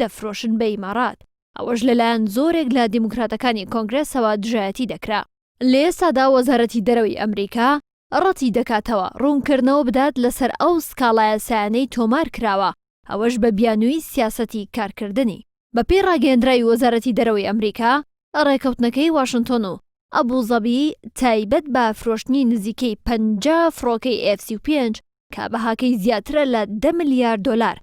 دەفرۆشن بە ئیماڕات، ئەوەش لەلایەن زۆرێک لە دیموکراتەکانی کۆنگرێسەوە دژایەتی دەکرا. لە ئێستادا وەزارەتی دەرەوەی ئەمریکا ڕەتیدەکاتەوە ڕوونکردنەوە بدات لەسەر ئەو سکاڵا یاسایانەی تۆمارکراوە، ئەوەش بە بیانووی سیاسەتی کارکردنی. بەپێی ڕاگەیەندراوی وەزارەتی دەرەوەی ئەمریکا، ڕێکەوتنەکەی واشنتۆن و ئەبوزەبی تایبەت بە فرۆشتنی نزیکەی پەنجا فڕۆکەی ئێف سی و پێنج کە بەهاکەی زیاترە لە دە ملیار دۆلار،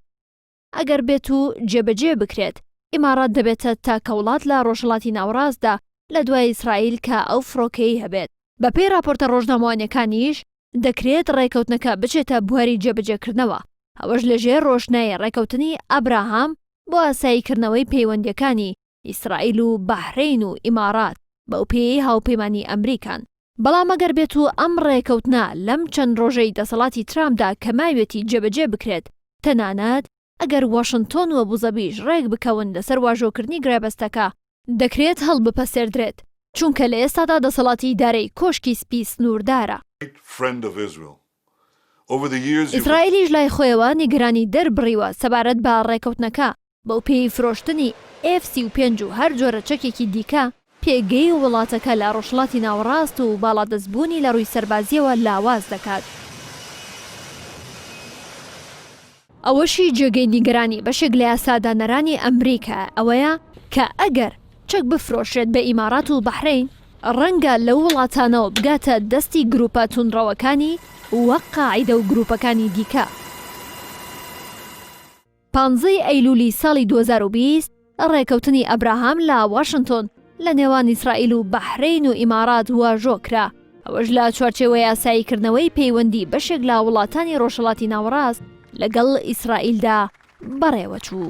ئەگەر بێت و جێبەجێ بکرێت، ئیمارات دەبێتە تاکە وڵات لە ڕۆژهەڵاتی ناوەڕاستدا لە دوای ئیسرائیل کە ئەو فڕۆکەیەی هەبێت. بەپێی ڕاپۆرتە ڕۆژنامەوانییەکانیش، دەکرێت ڕێکەوتنەکە بچێتە بواری جێبەجێکردنەوە، ئەوەش لەژێر ڕۆشنای ڕێکەوتنی ئابراهام بۆ ئاساییکردنەوەی پەیوەندییەکانی ئیسرائیل و بەحرەین و ئیمارات بەو پێیەی هاوپەیمانی ئەمریکان. بەڵام ئەگەر بێت و ئەم ڕێکەوتنە لەم چەند ڕۆژەی دەسەڵاتی ترامپدا کە ماویەتی جێبەجێ بکرێت، تەنانەت ئەگەر واشنتۆن و ئەبوزەبیش ڕێک بکەون لەسەر واژۆکردنی گرێبەستەکە، دەکرێت هەڵبپەسێردرێت، چونکە لە ئێستادا دەسەڵاتی ئیدارەی کۆشکی سپی سنووردارە. ئیسرائیلیش لای خۆیەوە نیگەرانی دەربڕیوە سەبارەت بە ڕێکەوتنەکە، بەوپێیەی فرۆشتنی ئێف سی و پێنج و هەر جۆرە چەکێکی دیکە، پێگەی وڵاتەکە لە ڕۆژهەڵاتی ناوەڕاست و باڵادەستبوونی لە ڕووی سەربازییەوە لاواز دەکات. ئەوەشی جێگەی نیگەرانی بەشێک لە یاسادانەرانی ئەمریکا ئەوەیە کە ئەگەر چەک بفرۆشرێت بە ئیمارات و بەحرەین، ڕەنگە لەو وڵاتانەوە بگاتە دەستی گرووپە توندڕەوەکانی وەک قاعیدە و گرووپەکانی دیکە. پانزە ی ئەیلولی ساڵی دوو هەزار و بیست ڕێکەوتنی ئەبراهام لە واشنتۆن لە نێوان ئیسرائیل و بەحرەین و ئیمارات واژۆ کرا، ئەوەش لە چوارچێوەی ئاسایی کردنەوەی پەیوەندی بەشێک لە وڵاتانی ڕۆژهەڵاتی ناوەڕاست لەگەڵ ئیسرائیلدا بەڕێوەچوو.